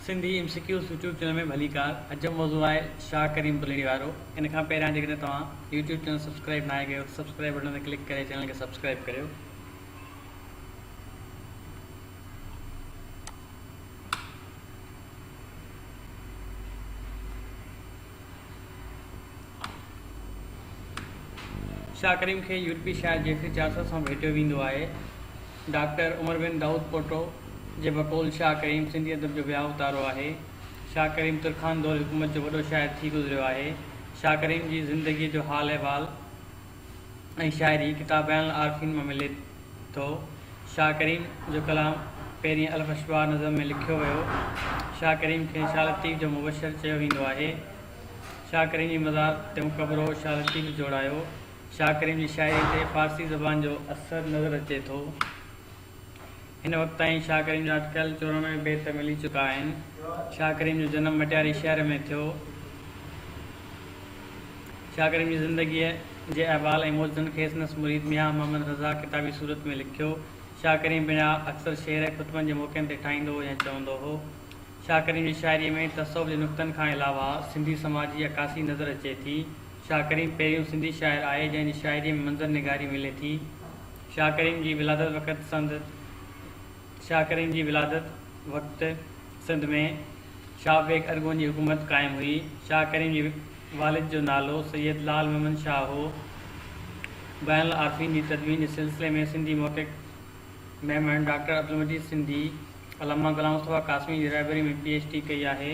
Sindhi M C Qs YouTube channel ۾ ڀليڪار عجب موضوع آهي شاهه ڪريم پليڙي وارو ان کان پهريان جيڪڏهن توهان يوٽيوب چينل سبسڪرائب ناهي ڪيو ته سبسڪرائب بٽن تي ڪلڪ ڪري چينل کي سبسڪرائب ڪريو. شاهه ڪريم کي يورپي شاعر جيفري چارسر سان ڀيٽيو ويندو آهي. ڊاڪٽر عمر بن دائود پوٽو جي بقول شاهه ڪريم سنڌي ادب جو وياو تارو آهي. شاهه ڪريم ترخان دور حڪومت جو وڏو شاعر ٿي گذريو آهي. شاهه ڪريم جي زندگيء جو حال احوال ۽ شاعري ڪتاب بيان العارفين مان ملي ٿو. شاهه ڪريم جو ڪلام پهرين الف اشباع نظم ۾ لکيو ويو. شاهه ڪريم کي شاهه لطيف جو مبشر چيو ويندو آهي. شاهه ڪريم جي مزار تي مقبرو شاهه لطيف جوڙايو. شاهه ڪريم جي شاعري تي فارسي زبان جو اثر نظر اچي ٿو. هن وقت تائين شاهه ڪريم جا اٽڪل چورانوي بيت ملي چڪا آهن. شاهه ڪريم جو جنم مٽياري شهر ۾ ٿيو. شاهه ڪريم جي زندگيء جي احوال ۽ موجزن کي سندس مريد ميان محمد رضا ڪتابي صورت ۾ لکيو. شاهه ڪريم پنهنجا اڪثر شعر ۽ خطبن جي موقعن تي ٺاهيندو هو يا چوندو هو. شاهه ڪريم جي شاعريء ۾ تصوف جي نقطن کان علاوه سنڌي سماج جي عڪاسي نظر اچي ٿي. شاهه ڪريم پهريون سنڌي شاعر آهي جنهن جي شاعريء ۾ منظر نگاري ملي ٿي. شاهه ڪريم جي ولادت وقت سنڌ شاهه ڪريم جي ولادت وقت سنڌ ۾ شاهه بيگ ارغون جي حڪومت قائم هئي. شاهه ڪريم جي والد جو نالو سيد لعل محمد شاهه هو. بيان العارفين جي تدوين جي سلسلي ۾ سنڌي محقق ميمڻ ڊاڪٽر عبدالمجيد سنڌي علامه غلام مصطفيٰ قاسمي جي رهبري ۾ پي ايڇ ڊي ڪئي آهي.